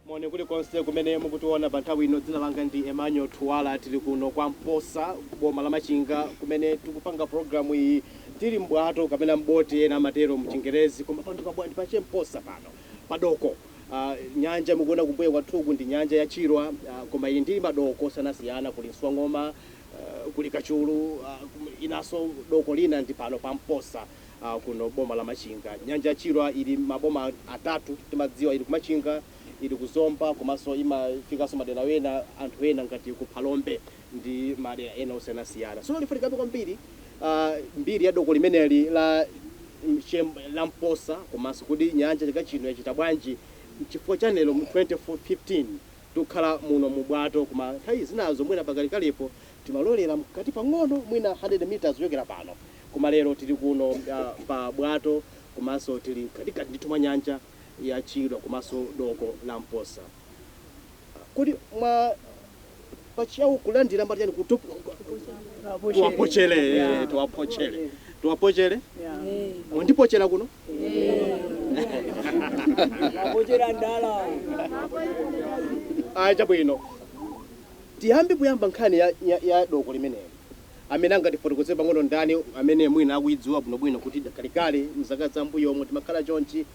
moni kulikonse kumene mukutiona pa nthawi ino dzina langa ndi emmanuel thuwala tili kuno kwa mposa boma la machinga kumene tikupanga programu iyi tili mbwato kapena mboti ena amatero mchingerezi koma pano ndi pabwa ndi pache mposa pano padoko Ah, nyanja mukuona kumbuyo kwathuku ndi nyanja ya Chilwa, ah, koma ili ndi madoko osiyanasiyana, kuli Nswang'oma, ah, kuli Kachulu, ah, kum- inaso doko lina ndi pano pa Mposa, ah, kuno boma la Machinga. Nyanja ya Chilwa ili maboma atatu timadziwa, ili ku Machinga, ili ku Zomba, komanso imafikanso madera ena anthu ena ngati ku Phalombe. ndi madera ena osiyanasiyana. Tsono tifuna tikambe kwambiri mbiri ya doko limeneli la Mchem la Mposa komanso kodi nyanja chaka chino yachita bwanji nchifukwa chani lero mu 2015 tikukhala muno mu bwato koma nthawi zinazo mwina pakalekalepo timalowelera mkati pang'ono mwina 100 metres kuchokera pano koma lero tili kuno pa bwato komanso tili mkatikati ndithu mwa nyanja ya Chilwa komanso doko la Mposa. Kodi mwa pachiyawo kulandira mumati chani kutup tuwapochele eh, tuwapochele tuwapochele mwandipochela kuno Wapochera ndala. aya chabwino tiyambe poyamba nkhani ya, ya, ya doko limeneli amene angatifotokozere pang'ono ndani amene mwina akuyidziwa bwinobwino kuti kalekale mzaka za mbuyomo timakhala chonchi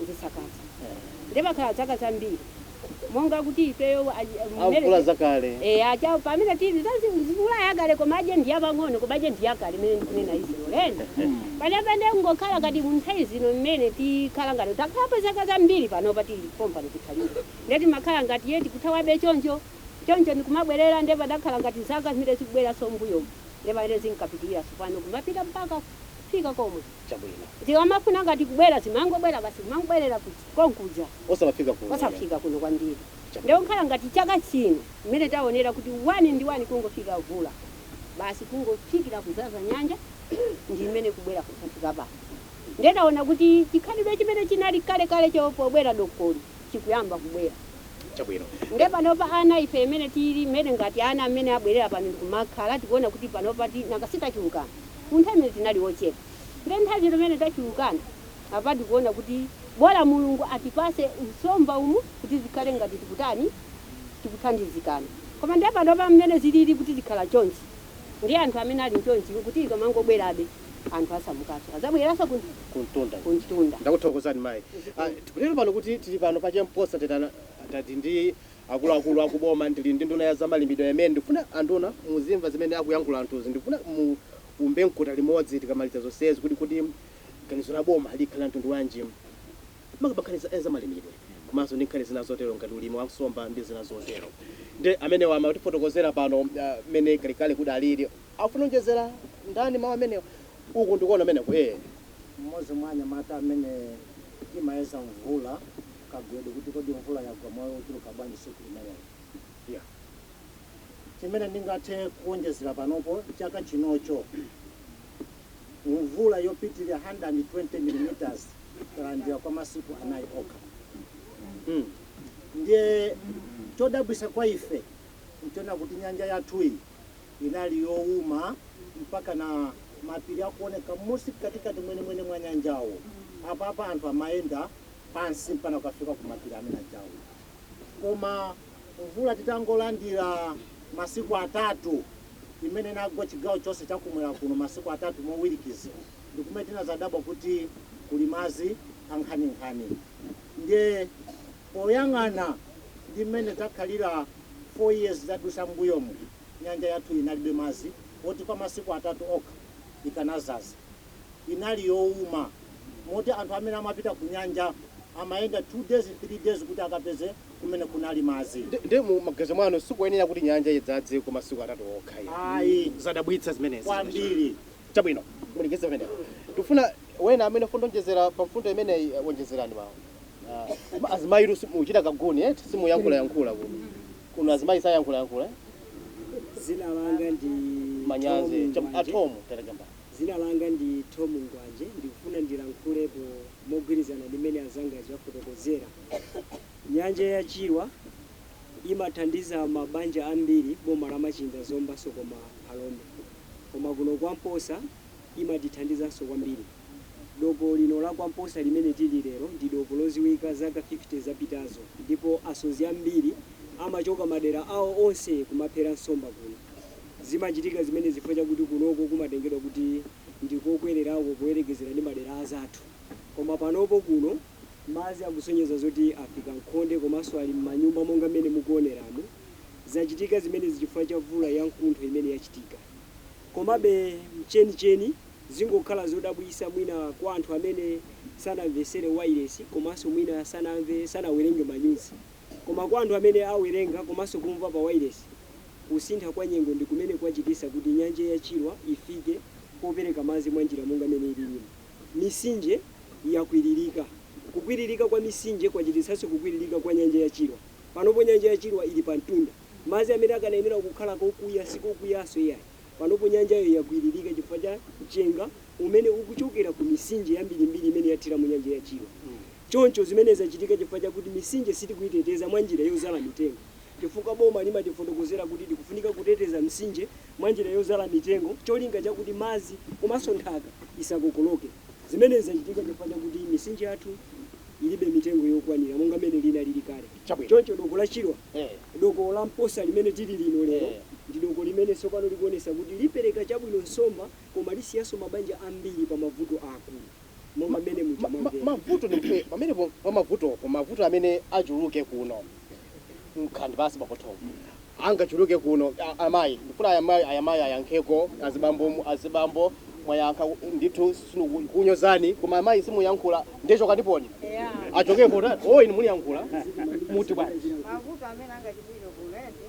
ndisakaza ndiye pakhala zaka zambiri monga kuti ifeyo mvula zakale eya cha pamene tili mvula yakale koma aje ndi yapang'ono koma aje ndi yakale imene ndikunena izi ulendo pamene pamene kungokhala ngati munthawi zino mmene tikhala ngati takhala pa zaka zambiri pano pa tili pompano tikhalire ndiye timakhala ngati ye tikuthawabe choncho choncho ndikumabwerera ndiye padakhala ngati zaka zimene zikubweranso mbuyomu ndiye pamene zinkapitirira tsopano kumapita mpaka kufika komwe chabwino. Zikamafuna ngati kubwera zimangobwera basi zimangobwerera kuja konkuja Osamafika kuno. osafika kuno kwambiri nde Chabwino. kukhala ngati chaka chino mmene taonera kuti one ndi one kungofika mvula basi kungofikira kuzaza nyanja ndi mmene kubwera kufika pano nde taona kuti chikhalidwe chimene chinali kale kale cho pobwera dokoli chikuyamba kubwera Chabwino. nde panopa ana ife mmene tili mmene ngati ana mmene abwerera pano ndikumakhala tikuona kuti panopa ti nanga si tachulukana Munthawi imene tinali ochepa nde nthawi imene tachulukana apa tikuona kuti bola Mulungu atipase nsomba umu kuti zikhale ngati tikutani tikuthandizikana koma nde panopa mmene zilili kuti zikhala chonchi nde anthu amene ali chonchi kuti ikamangobwerabe anthu asamukaso azabweraso ku Kumtunda ku mtunda. Ndakuthokozani mayi. Zikomo. Tikunena pano kuti tili pano pa Che Mposa Tetana tili ndi akuluakulu akuboma ndili ndi nduna ya zamalimidwe amene ndikufuna anduna muzimva zimene akuyankhula anthuzi ndikufuna muumbe mkota limodzi tikamaliza zonsezi kuti kodi ganizo la boma likhala mtundu wanji makamaka nkhani za malimidwe komanso ndi nkhani zina zotero ngati ulimi wa nsomba ndi zina zotero nde amenewa amatifotokozera pano mmene uh, kalikale kudaliri afuna kuonjezera ndani mawu amenewo uku ndikuona ameneko eh mmodzi mwa anyamata amene timayesa mvula Kagwedwe kuti, Kodi mvula yagwa malo ochuluka bwanji tsiku limenelo? Yoh. Chimene ndingathe kuwonjezera panopo, chaka chinocho mvula yopitirira 120 millimeters talandira kwa masiku anayi okha. Hmm. Ndiye chodabwitsa kwa ife nchona kuti nyanja yathuyi inali yowuma mpaka na mapiri akuonekamo si katikati mwenemwene mwa nyanjawo. Apapa anthu amayenda pansi mpaka kukafika ku mapiri amene ajawo. Koma mvula titangolandira masiku atatu imene inagwa chigawo chonse chakumwera kuno masiku atatu mowirikiza, ndi kumene tinazadabwa kuti kuli madzi ankhaninkhani. Ndiye poyang'ana ndi mmene zakhalira 4 years zadusa mbuyomu nyanja yathu inalibe madzi oti kwa masiku atatu okha ikanazaza. inali youma moti anthu amene amapita kunyanja amayenda 2 days 3 days kuti akapeze kumene kunali madzi. Ndiye mu maganizo mwanu sikuyenera kuti nyanja idzadze kwa masiku atatu okha iya? Ayi. Zadabwitsa zimenezi. Kwambiri. Chabwino, mulekeze pamenepo. Tikufuna wena amene afuna kuonjezera pa mfundo imeneyi eh, wonjezerani mawu. Ah, azimayi inu mukuchita kaguni eti simuyankhula yankhula kuno. Kuno azimayi sayankhula yankhula. eh? Zina langa ndi Manyazi. Tom Chab- Mwanje. Atomu terekamba. Dzina langa ndi Thom Mkwanje. Ndikufuna ndilankhulepo mogwirizana ndi mmene anzanga aja afotokozera. Nyanja ya Chilwa imathandiza mabanja ambiri m'boma la Machinga, Zombanso, komaa Phalombe. Koma kuno kwa Mposa imatithandizanso kwambiri. Doko lino la kwa Mposa limene tili lero ndi doko loziwika zaka 50 zapitazo ndipo asodzi ambiri amachoka madera awo onse kumaphera nsomba kuno. Zimachitika zimenezi chifukwa chakuti kunoko kumatengedwa kuti ndi kokwererako poyerekezera ndi madera azathu. Koma panopo kuno madzi akusonyeza zoti afika m'khonde komanso ali m'manyumba monga mmene mukuoneramu. Zachitika zimenezi chifukwa cha mvula yamkuntho imene yachitika. Komabe m'chenicheni zingokhala zodabwitsa mwina kwa anthu amene sanamvetsere wailesi komanso mwina sanamve, sanawerenge manyuzi. Koma kwa anthu amene awerenga komanso kumva pawailesi, Kusintha kwa nyengo ndi kumene kwachititsa kuti nyanja ya Chilwa ifike popereka madzi mwa njira monga mmene ililimu. Misinje yakwiririka. Kukwiririka kwa misinje kwachititsanso kukwiririka kwa nyanja ya Chilwa. Panopo nyanja ya Chilwa ili pa mtunda. Madzi amene akanayenera kukhala kokuya si kokuyanso iyayi. Panopo nyanjayo yakwiririka chifukwa cha mchenga umene ukuchokera ku misinje yambirimbiri imene yathira mu nyanja ya Chilwa. Choncho zimenezi zachitika chifukwa chakuti misinje sitikuiteteza mwa njira yodzala mitengo. chifukwa boma limatifotokozera kuti tikufunika kuteteza mtsinje mwa njira yodzala mitengo n'cholinga chakuti madzi komanso nthaka isakokoloke. Zimenezi zachitika chifukwa chakuti mitsinje yathu ilibe mitengo yokwanira monga mmene inalili kale. Chabwino. Choncho doko la Chilwa, Eh. doko la Mposa limene tili lino lero, Eh. ndi doko limene tsopano likuonetsa kuti lipereka chabwino nsomba koma lisiyanso mabanja ambiri pa mavuto aakulu. monga Ma- mmene muja ma- ma- mwamvera. mavuto ndi eh, pamenepo pa mavutopo mavuto amene achuluke kuno nkhani basi pakothomo angachuluke kuno A- amayi ndifuna ayamayi ayamayi ayankheko azibambo mu- azibambo mwayankha ndithu sinkunyozani koma amayi simuyankhula ndichoka ndiponi Yeah. achokepo ta oh inu mulankhula muti bwanji mavuto amene angachitike kulezi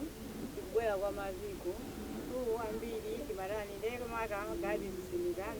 ndikubwera kwa madziku mkulu wambiri timatani ndeke maka gadi zisimikani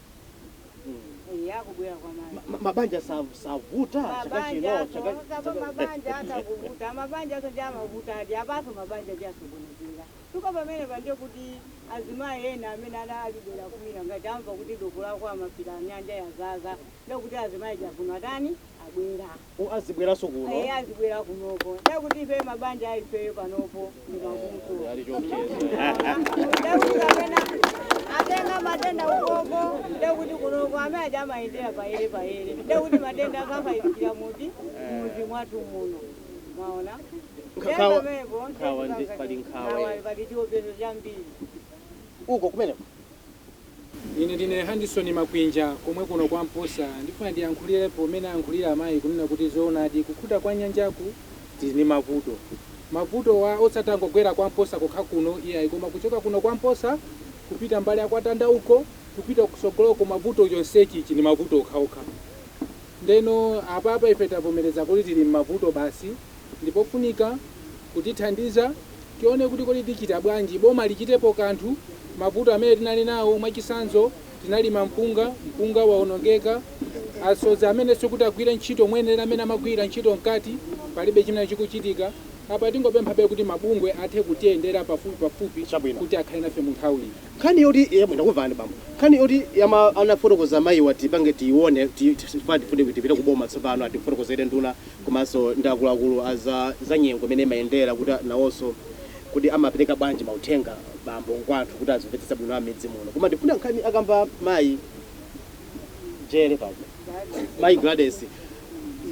Eh, yakubwera kwa madzi. Ma- ma- mabanja sa- savuta chaka chino Mabanja aso, chaka- osapa chaka- mabanja atakuvuta, mabanja aso ndi amavuta adi, apaso mabanja ndi asokonekera. Chifukwa pamene pali kuti azimayi ena amene ana ali pena kwina ngati amva kuti doko lakwa Mapila nyanja yadzadza, ndekuti azimayi aja kuno atani abwera. u azibweraso kuno. Eya azibwera kunoko. Ndekuti ifeyo mabanja a ifeyo panopo ndi mavuto. Eh, pali chiopsezo. Ndekuti amene atenga matenda ukoko ndekuti kunoko amene aja amayendera payere payere. Ndekuti matenda akafalikira mudzi eh. mudzi mwathu muno. Mwaona? Nkhawa nkhawa ndi pali nkhawa. Pali chiopsezo chambiri. Uko kumeneko. Ine ndine Handison Makwinja komwe kuno kwa Mposa ndifuna ndiyankhulirepo mmene ayankhulira amayi kunena kuti zoonadi kukhuta kwa nyanjaku tili ndi mavuto. Mavutowa osati angogwera kwa Mposa kokha kuno iyayi koma kuchoka kuno kwa Mposa kupita mbali ya kwa Tanda uko kupita kusogoloko mavuto chonsechichi ndi mavuto okhaokha. Ndeno apapa ife tavomereza kuti tili mmavuto basi. ndi pofunika kutithandiza tione kuti kodi tichita bwanji, boma lichitepo kanthu, mavuto amene tinali nawo mwachisanzo tinalima mpunga, mpunga waonongeka, asodzi amenenso kuti agwire ntchito moyenelera amene amagwira ntchito mkati palibe chimene chikuchitika, apa tingopemphabe kuti mabungwe athe kutiyendera pafupi pafupi Chabwino. kuti akhale nafe mu nthawiyi. Nkhani yoti yabwino ndakumvani bambo. Nkhani yoti yama anafotokoza mayiwa tipange tiione ti- ti- chifukwa tifuna tipite ku boma tsopano atifotokozere nduna komanso ndi akuluakulu a za zanyengo imene imayendera kuti nawonso kodi amapereka bwanji mauthenga bambo kwa anthu kuti azimvetsetsa bwino am'midzi muno koma ndifuna nkhani akamba mayi jere pano mayi Gladys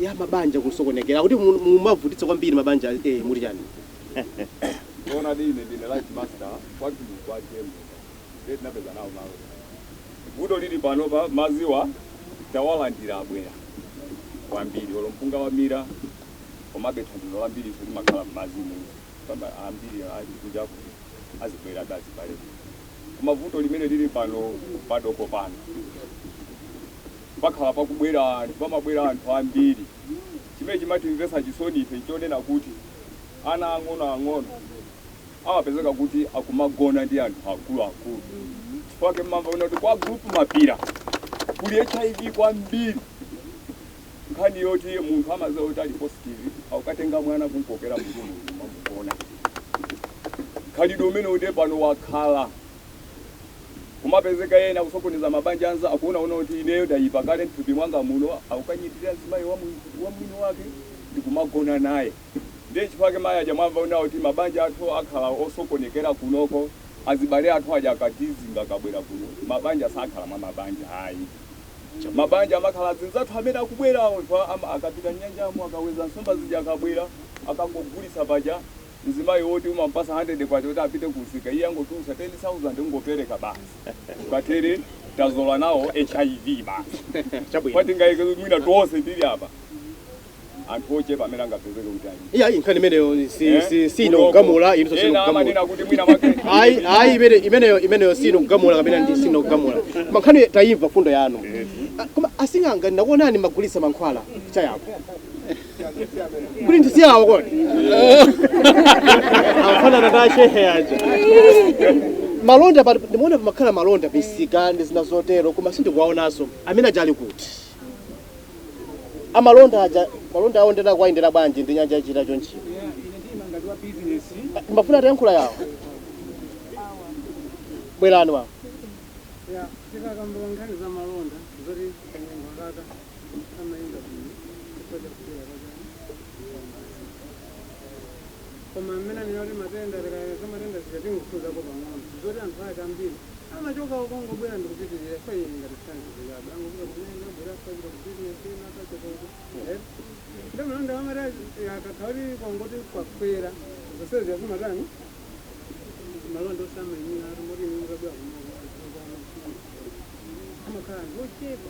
ya mabanja kusokonekera kuti mu- mumavutitsa kwambiri mabanja eh, muli chani Ona dine dine life master kwathu kwaje ndiye tinapeza nawo malo kumeneko. Vuto lili panopa madziwa tawalandira abwera kwambiri olo mpunga wamira komabe thandizo lambirinso limakhala m'madzimu kamba ambiri ali kunja kuno azibwerabe azibale koma vuto limene lili pano padoko pano pakhala pakubwera anthu pamabwera anthu ambiri chimene chimatimvesa chisoni ife nchonena kuti ana ang'onoang'ono amapezeka kuti akumagona ndi anthu akuluakulu chifukwa chake mmamva kunena kuti kwa group mapira kuli hiv kwambiri nkhani yoti munthu amaziwa kuti ali positive akukatenga mwana kumkokera n'kumamugona khalidwe umene ndiye pano wakhala kumapezeka ena kusokoneza mabanja a anzawo akuonaona kuti ineyo ndayipa kale mthupi mwanga muno akukanyengerera mzimayi wa mwini wake ndikumagona naye Ndiye nchifukwa chake mayi aja mwamva onena kuti mabanja athu akhala osokonekera kunoko, azibale athu aja akatizinga akabwera kuno. Mabanja sakhala mwa mabanja ayi. Mabanja amakhala azinzathu amene akubwerawo, akapita m'nyanjamo akaweza nsomba zija akabwera, akangogulitsa paja mzimayi woti umamupatsa K100 kuti apite kumsika, iye angotulutsa K10,000 kungopereka basi. Patere tazola nawo HIV basi. Chifukwa tinganene mwina tonse tili apa. anthu ochepa amene angapezeke kuti ali iyayi nkhani imeneyo si- Eh? si- si ino kugamula ino amanena kugamula kuti mwina mwake ayi ayi imeneyo si ino kugamula kapena ndi si ino kugamula koma nkhani tayimva fundo yanu Ah, koma asing'anga ndakuonani mumagulitsa mankhwala chapauko kuti ndi si awo kodi afanana ndi ashehe aja malonda pa- ndimaona pamakhala malonda misika ndi zina zotero koma sindikuwaonanso amene aja ali kuti amalonda aja malonda awo nde akuwayendera bwanji ndi nyanja yachita chonchiyo mmafuna atayankhula awo bwerani awo koma mmene anena kuti matenda tikayesa matenda zija tingokhuzako pang'ono zoti anthu ake ambiri amachoka uko kungobwera ndikupitirira so iyi ngati sanizikabe angopita kumene abwera sapita ku bizinesi ina akachotoko nde malonda amati akakhala kuti kwangoti kwakwera zonsezi akumatani malonda osamayenda ati moti ine mukabwera kunoko amakhala anthu ochepa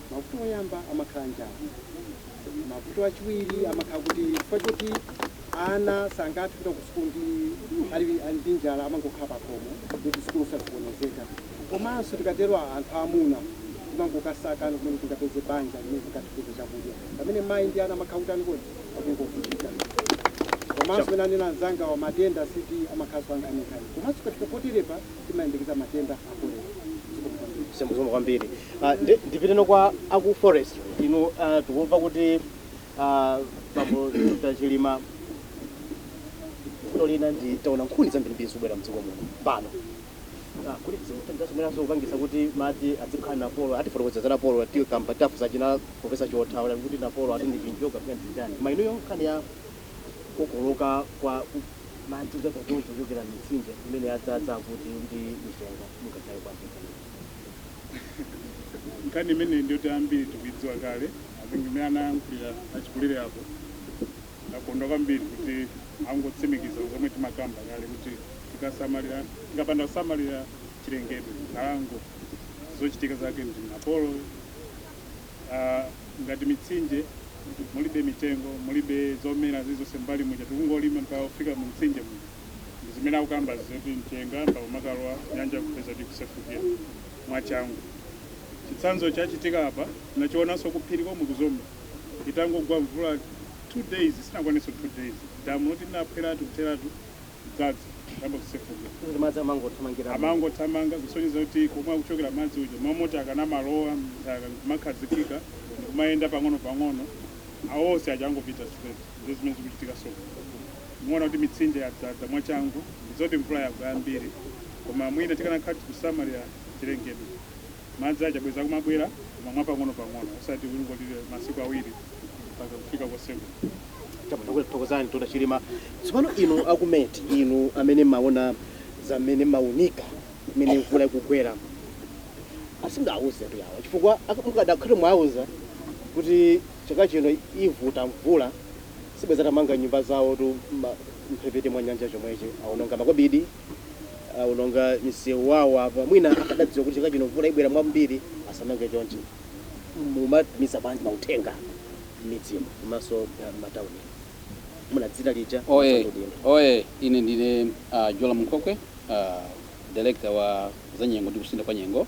Mavuto oyamba amakhala njala. Mavuto achiwiri amakhala kuti chifukwa choti ana sangathe kupita ku sukulu ndi ali ali ndi njala amangokhala pakhomo kuti sukulu sazikonezeka. Komanso tikatero a- anthu aamuna timangokasakano kumene tingapeze banja limene tingathe kupeza chakudya. Pamene mayi ndi ana amakhala kutani kodi? Akungovutika. Komanso pamene anena anzangawa matenda a STI amakhalanso ankhaninkhani. Komanso tikafika poterepa timayembekeza matenda a kolera. Zikomo kwambiri. Zikomo zikomo kwambiri uh, ndi, ndipiteno kwa aku forest inu uh, tikumva kuti uh, bambo Dr. Chilima vuto lina nditaona nkhuni zambirimbiri zikubwera mdziko muno pano Ah, kuti zimathandiziranso kupangisa kuti madzi azikhala napolo atifotokoza za napolo ati kamba tafunsa achina profesa Chiotha awula kuti napolo ati ndi chinjoka kaya nzotani koma inuyo nkhani ya kukokoloka kwa Madzi odzadza chonchi ochokera m'mitsinje imene yadzadza akuti ndi mchenga mungakhale bwanji mkhalidwe umenewu? Nkhani imeneyi ndiyoti ambiri tikuidziwa kale. I think mmene anayankhulira achikulire apo ndakondwa kwambiri kuti angotsimikiza zomwe timakamba kale kuti tikasamalira, tikapanda kusamalira chilengedwe, nkhalango, zochitika zake ndi napolo. Uh, ngati mitsinje mulibe mitengo mulibe zomera zilizonse m'mbali muja tikungolima mpaka kufika mu mtsinje muja ndi zimene akukamba zoti mchenga mpaka kumakalowa m'nyanja kupeza kuti kusefukira mwachangu chitsanzo chachitika apa nachionanso kuphiri komwe ku Zomba itangogwa mvula two days sinakwanenso two days damu loti linaphweratu kutheratu dzadza kuyamba kusefukira kuti madzi amangothamangira amangothamanga kusonyeza kuti komwe akuchokera madzi aja mmalo moti akanamalowa mnthaka kumakhazikika ndikumayenda pang'ono pang'ono awonse aja angopita straight ndi zimene zikuchitika so muona kuti mitsinje yadzadza mwachangu ndi zoti mvula yagwa yambiri koma mwina tikanakhala tikusamalira chilengedwe Madzi aja bwezi akumabwera koma mwapang'onopang'ono osati kuti ungoti masiku awiri mpaka kufika kosefuka. Chabwino, ndikuthokozani Dr. Chilima. Tsopano inu aku met, inu amene mmaona za mmene mmaunika mmene mvula ikugwera, asingauze tu yawa chifukwa ak mukadakhala mwauza kuti chaka chino ivuta mvula sibwenzi atamanga nyumba zawotu mma mphepete mwa nyanja chomwechi awononga makobidi. aononga msewu wawo apa mwina akadadziwa kuti chaka chino mvula ibwera mwambiri asamange chonchi mumatumiza bwanji mauthenga m'midzimu komanso ah, m'matauni muno dzina lija oye komanso kuti- oye ine ndine uh, Jolamu Nkhokwe uh, director wa zanyengo ndi kusintha kwa nyengo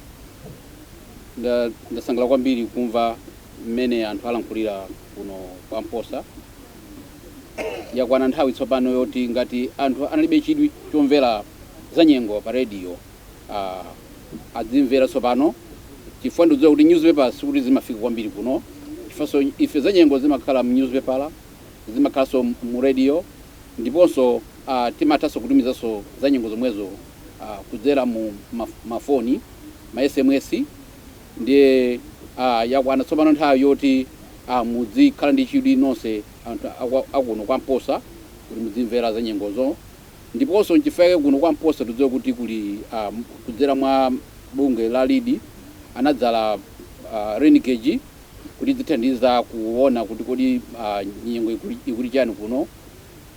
Nda- ndasangalala kwambiri kumva mmene anthu alankhulira kuno kwa Mposa Yakwana nthawi tsopano yoti ngati anthu analibe chidwi chomvera za nyengo pa radio aah adzimvera tsopano chifukwa ndikudziwa kuti newspaper sikuti zimafika kwambiri kuno chifanso ife za nyengo zimakhala mu newspaper zimakhalanso mu radio ndiponso aah timathanso kutumizanso za nyengo zomwezo aah kudzera mu ma ma phone ma sms Ndiye a yakwana tsopano nthawi yoti a mudzikhala ndi chidwi nonse anthu a kwa a kuno kwa Mposa kuti mudzimvera za nyengozo. Ndiponso n'chifukwa chake kuno kwa Mposa tikudziwa kuti kuli a kudzera mwa bungwe la Lead anadzala rain gauge kuti idzithandiza kuona kuti kodi a nyengo ikuli, ikuti chani kuno.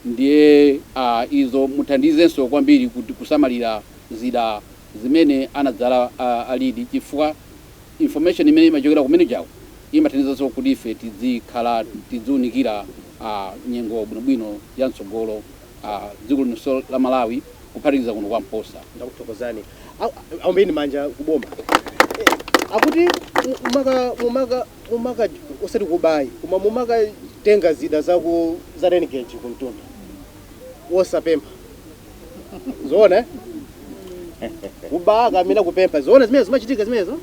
Ndiye a izo muthandizenso kwambiri kuti kusamalira zida zimene anadzala a Lead chifukwa information imene imachokera ku rain gauge-ko imathandizanso kuti ife tidzikhala tidziunikira a nyengo bwinobwino ya mtsogolo ya dziko linonso la Malawi kuphatikiza kuno kwa Mposa. Ndakuthokozani. A- a- Aombeni manja ku boma. Eh, Akuti mu- mumaka mumaka mumaka osati kuba ayi koma mumakatenga zida za ku za rain gauge ku mtunda. Wosapempha. zoona eh? kuba kapena kupempha zoona zimene zimachitika zimenezo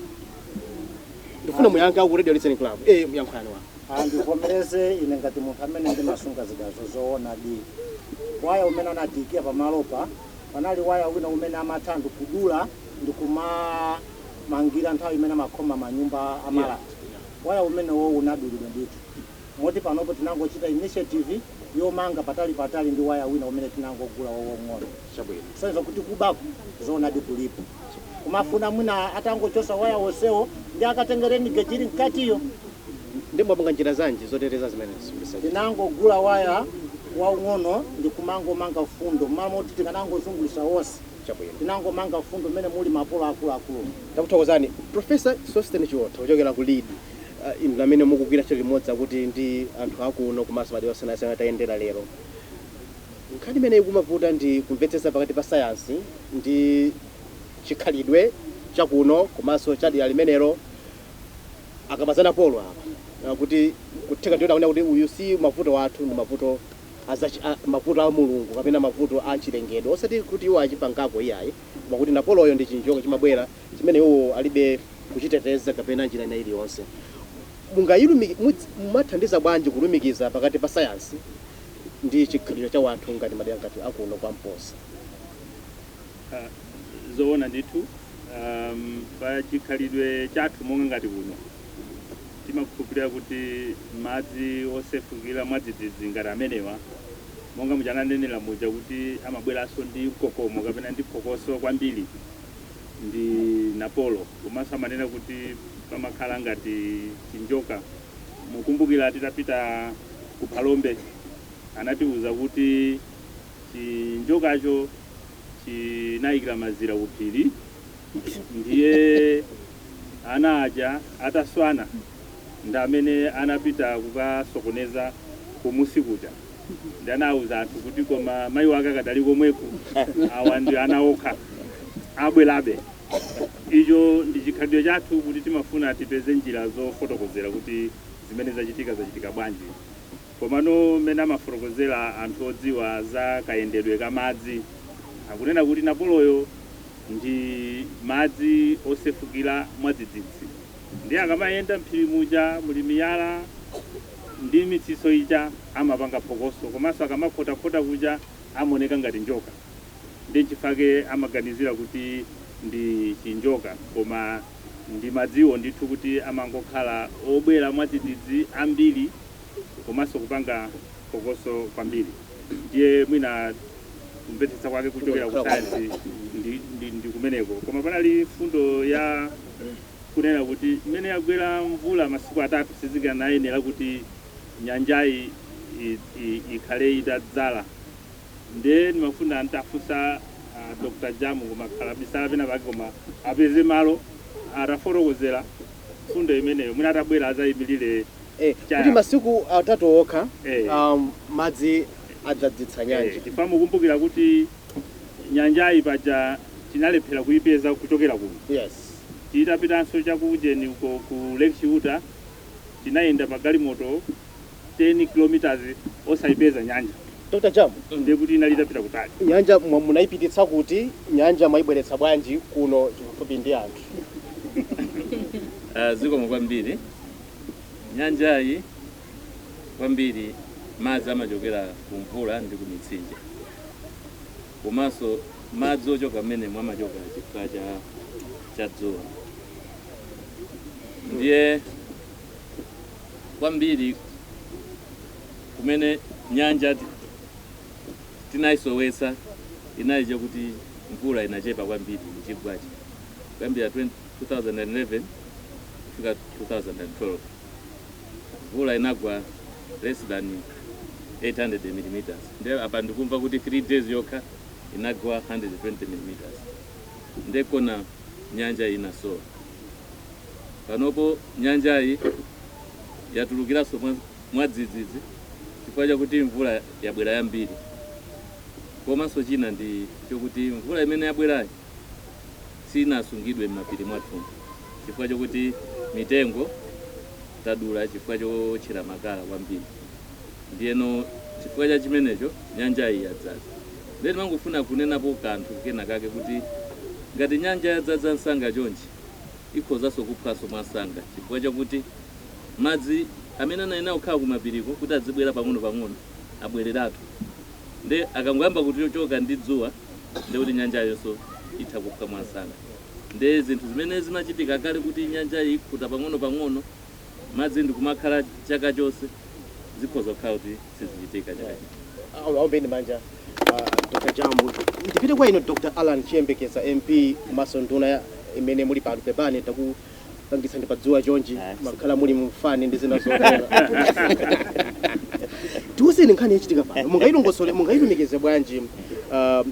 ndikufuna muyankha ku radio listening club eh muyankhani wa ndivomereze ine ngati munthu amene ndimasunga zidazo zoonadi waya umene anatiikia pamalopa panali waya wina umene amatha ndi kudula ndi kumamangira nthawi imene amakhoma manyumba amalata waya umenewo unadulidwa ndithu moti panopo tinangochita initiative yomanga patalipatali ndi waya wina umene tinangogula wawong'ono. Chabwino. Kusonyeza kuti kubaku zoonadi kulipo. Kumafuna mwina atangochosa waya wonsewo ndiye akatenge rain gauge ili mkatiyo. Ndiye mwapanga njira zanji zoteteza zimenezi kuti zisachitike? Tinangogula waya waung'ono ndi kumangomanga mfundo mmalo moti tikanangozungulitsa wonse. Chabwino. Tinangomanga mfundo mmene muli mapolo akuluakulumo. Takuthokozani. Professor Sosten Chiotha kuchokera ku Lead. inu amene mukugwira ntchito limodzi kuti ndi anthu akuno komanso madera osiyanasiyana tayendera lero nkhani imene ikumavuta ndi kumvetsetsa pakati pa sayansi ndi chikhalidwe chakuno komanso cha dera limenelo akamati za napolo apa Ah, kuti kutheka ndiye taona kuti uyu si mavuto athu ndi mavuto azachi- a- mavuto a mulungu kapena mavuto a chilengedwe osati kuti iwo achipangako iyayi koma kuti napoloyo ndi chinjoka chimabwera chimene iwo alibe kuchiteteza kapena njira ina iliyonse, mungayilumiki, mudz, mumathandiza bwanji kulumikiza pakati pa sayansi ndi chikhalidwe cha wanthu ngati madera ngati a kuno kwa Mposa? Ah, zoona ndithu um, pa chikhalidwe chathu monga ngati kuno timakhulupirira kuti madzi osefukira mwadzidzidzi ngati amenewa monga muja ananenera muja kuti amabweranso ndi mkokomo kapena ndi phokoso kwambiri ndi Napolo komanso amanena kuti pamakhala ngati chinjoka. Mukumbukira titapita ku Phalombe anatiuza kuti chinjokacho chinayikira mazira ku phiri ndiye ana aja ataswana ndi amene anapita kukasokoneza kumusi kuja ndi anawuza anthu kuti koma mayi wake akadali komweko awa ndi ana okha abwerabe icho ndi chikhalidwe chathu kuti timafuna tipeze njira zofotokozera kuti zimene zachitika zachitika bwanji komano mmene amafotokozera anthu odziwa za kayendedwe ka madzi akunena kuti napoloyo ndi madzi osefukira mwadzidzidzi Ndiye akamayenda m'phiri muja muli miyala ndi mitsitso ija, amapanga phokoso komanso akamakhotakhota kuja amaoneka ngati njoka. Ndiye n'chifake amaganizira kuti ndi chinjoka. Koma ndi madziwo ndithu kuti amangokhala obwera mwadzidzidzi ambiri. komanso kupanga phokoso kwambiri ndiye mwina kumvetsetsa kwake kuchokera ku sayansi ndi, ndi, ndi kumeneko koma panali fundo ya kunena kuti imene yagwera mvula masiku atatu sizikanayenera kuti nyanjayi i- i- ikhale itadzala nde ndimafuna ntafunsa uh, dr jamu koma kaya wabisala pena pake koma apeze malo atafotokozera fundo imeneyo mwina atabwera azayimirire eh, kuti Chayamba. masiku atatu okha Eh. um, madzi adzadzitsa Eh, nyanja chifukwa mukumbukira kuti nyanjayi paja tinalephera kuipeza kuchokera kuno yes titapitanso chakujeni uko ku lake chiuta tinayenda pagalimoto 10 kilometers osayipeza nyanja dr jamu ndiye kuti inali itapita kutali nyanja mwa- munayipititsa kuti nyanja mwayibweretsa bwanji kuno chifupi ndi anthu Ah, zikomo kwambiri Nyanjayi kwambiri madzi amachokera ku mvula ndi ku mitsinje komanso madzi ochoka mmenemo amachoka chifukwa cha dzuwa ndiye kwambiri kumene nyanja ti- tinayisowetsa inali chakuti mvula inachepa kwambiri mchigwachi kuyambira 20 2011 kufika 2012 mvula inagwa less than 800 millimeters nde apa ndikumva kuti 3 days yokha inagwa 120 millimeters nde nkona nyanja inasowa panopo nyanjayi yatulukiranso mwa- mwadzidzidzi chifukwa chakuti mvula yabwera yambiri komanso china ndi chokuti mvula imene yabwerayi sinasungidwe m'mapiri mwathumu chifukwa chokuti mitengo tadula chifukwa chowotchera makala kwambiri. Ndiyeno chifukwa cha chimenecho nyanjayi yadzadza. Ndiye timangofuna kunenapo kanthu kena kake kuti ngati nyanja yadzadza msanga chonchi, ikhozanso kuphwanso mwamsanga chifukwa chakuti madzi amene anayenera kukhala kumapiriko kuti adzibwera pang'onopang'ono abwereratu. nde akangoyamba kuti ochoka ndi dzuwa nde kuti nyanjayonso itha kuphwa mwamsanga nde zinthu zimene zimachitika kale kuti nyanja ikhuta pang'ono pang'ono madzi ndikumakhala chaka chonse zikhoza kukhala kuti sizichitika chaka chino Awo- aombeni manja ah, dr jamu ndipite kwa inu dr alan chiyembekeza mp komanso nduna ya- imene muli pano pepani taku pangitsani padzuwa chonchi mmakhala muli mfani ndi zina zotero tiwuzeni nkhani yachitika pano mungayilongosole mungayilumikize bwanji ah, ah,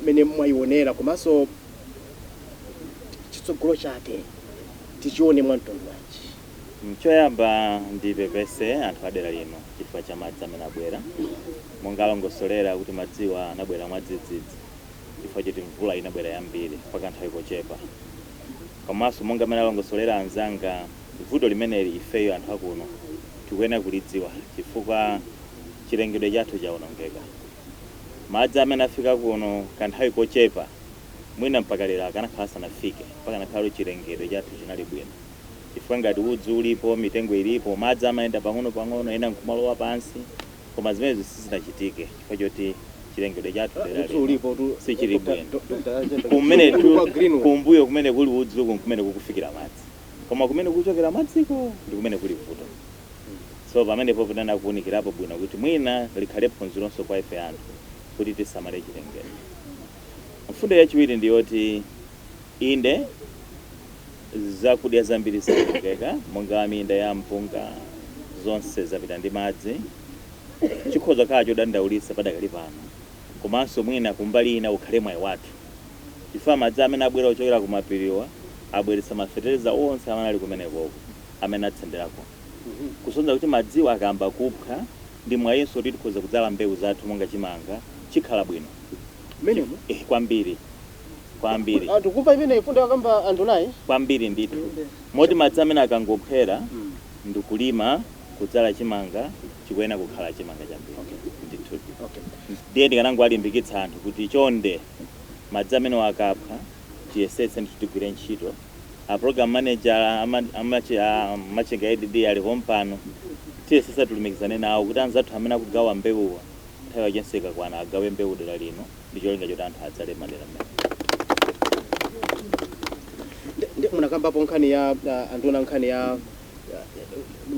mmene mwayionera komanso chitsogolo chake tichione mwa mtundu wanji choyamba ndipepese anthu adera lino chifukwa cha madzi amene abwera monga alongosolera kuti madziwa anabwera mwadzidzidzi chifukwa choti mvula inabwera yambiri pakanthawi kochepa komanso monga mmene alongosolera anzanga vuto limeneli ifeyo anthu akuno tikuyenera kulidziwa chifukwa chilengedwe chathu chaonongeka. Madzi amene afika kuno kanthawi kochepa mwina mpaka lero akanakhala asanafike pakanakhala kuti chilengedwe chathu chinali bwino chifukwa ngati udzu ulipo, mitengo ilipo, madzi amayenda pang'onopang'ono ena nkumalowa pansi. Koma zimenezi sizinachitike chifukwa choti chilengedwe chathu dera lino sichili bwino. Kumenetu kumbuyo kumene kuli udzuku n'kumene kukufikira madzi. Koma kumene kukuchokera madziko ndi kumene kuli vuto. So pamenepopo tiyenera kuunikirapo bwino kuti mwina likhale phunzironso kwa ife anthu kuti tisamale chilengedwe. Mfundo yachiwiri ndi yoti, inde, Zakudya zambiri zawonongeka, monga minda ya mpunga, zonse zapita ndi madzi. Chikhoza kukhala chodandaulitsa padakali pano, komanso mwina kumbali ina ukhale mwayi wathu chifukwa madzi amene abwera kuchokera kumapiriwa abweretsa mafetereza onse amene ali kumenekoko amene atsenderako kusonyeza kuti madziwo akayamba kuphwa, ndi mwayinso kuti tikhoza kudzala mbewu zathu monga chimanga, chikhala bwino. mmenemo eh, kwambiri kwambiri anthu kumva imeneyi mfundo yakamba andunayi kwambiri ndithu moti madzi amene akangophwera ndikulima kudzala chimanga chikuyenera kukhala chimanga chambiri ndithu okay. ndiye ndikanangowalimbikitsa anthu kuti chonde madzi amenewa akaphwa tiyesetse ndithu tigwire ntchito a program manager ama- amachi- a Machinga ADD alipo pompano tiyesetsa tilumikizane nawo kuti anzathu amene akugawa mbewuwa Nthawi yachenso ikakwana agawe mbewu dera lino ndi cholinga choti anthu adzale m'madera m'mene. Nde munakambapo nkhani ya ah, anduna nkhani ya ah,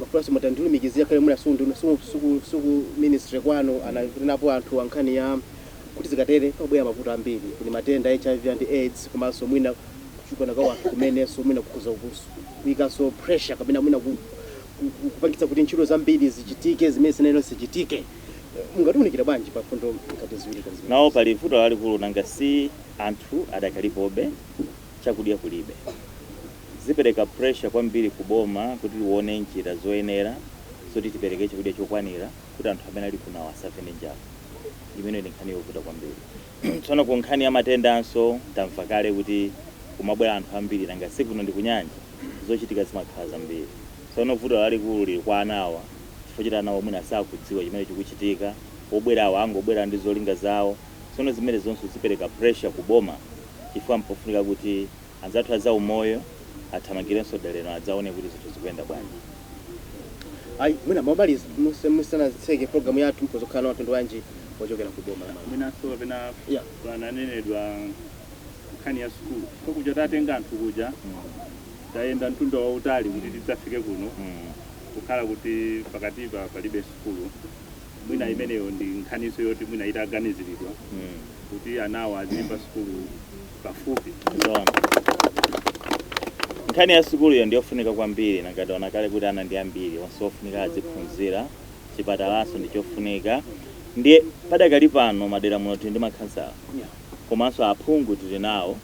mafunso mutandilumikizira kale mwina su nduna- su- suku- suku ministry kwanu ananenapo anthu ankhani ya kuti zikatere pabwera mavuto ambiri kuli matenda hiv and aids komanso mwina kuchulukana kwa wanthu kumenenso mwina kukhuza kukusu kuikanso pressure kapena mwina ku- kupangitsa kuti ntchito zambiri zichitike zimene sizinayenera zichitike. Mungatiunikire bwanji pa mfundo ngati ziwiri ngati zimenezi? Nawo pali vuto lalikulu, nanga si anthu adakalipobe, chakudya kulibe. Zipereka pressure kwambiri ku boma kuti lione njira zoyenera zoti tipereke chakudya chokwanira kuti anthu amene ali kunowa asafe ndi njala. Imeneyo ndi nkhani yovuta kwambiri. Tsono ku nkhani ya matendanso tamva kale kuti kumabwera anthu ambiri nanga si kuno ndi kunyanja zochitika zimakhala zambiri. Tsono vuto lalikulu lili kwa anawa chifukwa choti anawa mwina sakudziwa chimene chikuchitika, obwerawa angobwera ndi zolinga zawo tsono zimenezo zonse zipereka pressure ku boma chifukwa mpofunika kuti. Anzathu a zaumoyo athamangirenso dera lino adzaone kuti zinthu zikuyenda bwanji. Ayi mwina momaliza tisanatseke program yathu mukhoza kukhala nawo uthenga wanji wochokera ku boma la Malawi. Mwinanso kapena pananenedwa nkhani ya sukulu chifukwa kuja tatenga anthu kuja tayenda mtunda wautali kuti tidzafike kuno kukhala kuti pakatipa palibe sukulu mwina imeneyo ndi nkhaninso yoti mwina itaganiziridwa kuti anawa aziyimba sukulu. pafupi. Zoona. Nkhani ya sukuluyo ndi yofunika kwambiri nanga taona kale kuti ana ndi ambiri onse ofunika aziphunzira chipatalanso ndi chofunika ndiye padakali pano madera muno tili ndi makhansala Yeah. komanso aphungu tili nawo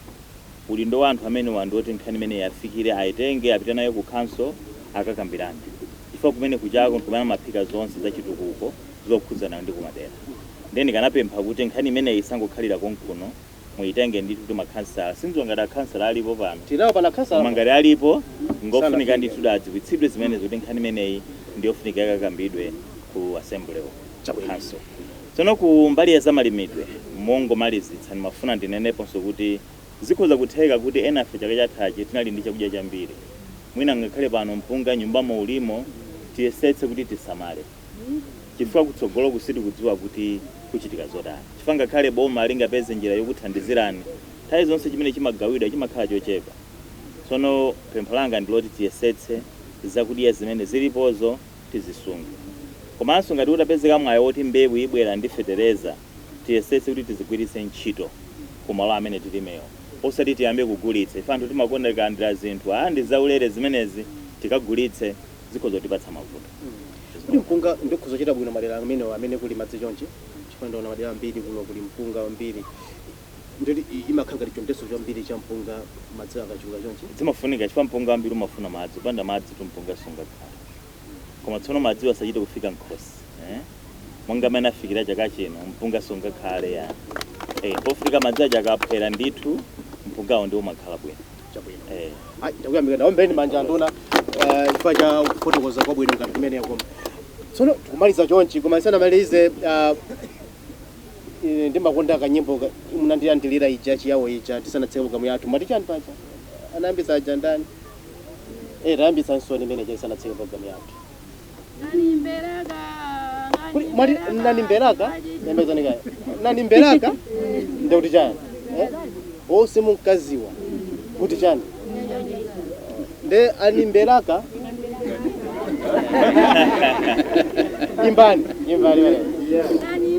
udindo wa anthu amenewa ndi woti nkhani imeneyi iwafikire ayitenge apite nayo ku khonsolo akakambirane chifukwa kumeneku jako nkumene amaphika zonse za chitukuko zokhudzana ndi kumadera nde ndikanapempha kuti nkhani imeneyi isangokhalira konkuno muitenge ndithu kuti makhansala sindziwa ngati akhansala alipo pano. Tinawo pano khansala koma apa? Ngati alipo ngofunika Sanafike. ndithu adziwitsidwe zimenezo kuti nkhani imeneyi ndiyofunika ikakambidwe ku assembly uko ku Chabwino. council tsono ku mbali ya zamalimidwe mongomalizitsa ndimafuna ndineneponso kuti zikhoza kutheka kuti enafe chaka chathachi tinali ndi chakudya chambiri mwina ngakhale pano mpunga nyumbamo ulimo tiyesetse kuti tisamale chifukwa kutsogoloku sitikudziwa kuti kuchitika zotani chifukwa ngakhale boma lingapeze njira yokuthandizirani nthawi zonse chimene chimagawidwa chimakhala chochepa tsono pempho langa ndi loti tiyesetse zakudya zimene zilipozo tizisunge komanso ngati utapezeka mwayi woti mbewu ibwera ndi fetereza tiyesetse kuti tizigwiritse ntchito ku malo amene tilimowo osati tiyambe kugulitsa ife anthu timakonda tikalandira zinthu aa ndi zaulere zimenezi tikagulitse zikhoza kutipatsa mavuto. Kodi mpunga ndiwo ukhoza kuchita bwino madera amenewa amene kuli madzi chonchi? Chifukwa ndaona madera ambiri kuno kuli mpunga wambiri ndiye kuti imakhala ngati chonde chambiri cha mpunga madzi akachuluka chonchi. Zimafunika chifukwa mpunga wambiri umafuna madzi, kupanda madzitu mpunga sungakhale. Koma tsono madziwo asachite kufika m'khosi. Monga mmene afikira chaka chino, mpunga sungakhale yayi. Pofunika madzi aja akaphwera ndithu, mpungawo ndiwo umakhala bwino. chabwino Eh. Ai, ndakuyamika tawombeni manja a nduna eh, chifukwa cha kufotokoza kwabwino ngati kumeneku tsono tikumaliza chonchi koma tisanamalize ah, ine ndimakonda kanyimbo ka- munandilandilira ija ya Chiyao ija tisanatseke programu yathu mati chani paja anayambitsa aja ndani eh tayambitsani imene ija tisanatseke programu yathu Kuli mwati nani mberaka? Yambazani kaya. Nani mberaka? Ndio kuti chani? Eh? Wose munkaziwa kuti chani? Nde ani mberaka? Imbani, imbani wale. Yeah. Nani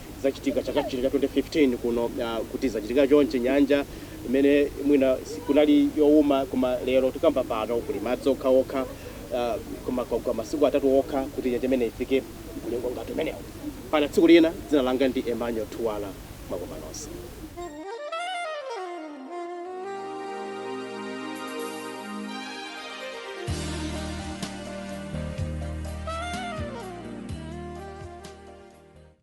zachitika chaka chino cha 2015 kuno uh, kuti zachitika chonchi nyanja imene mwina kunali youma koma lero tikamba pano kuli madzi okha okha uh, koma kwa masiku atatu okha kuti nyanja imene ifike mlingo ngati umenewu mpaka tsiku lina dzina langa ndi Emmanuel Thuwala mwakoma nonse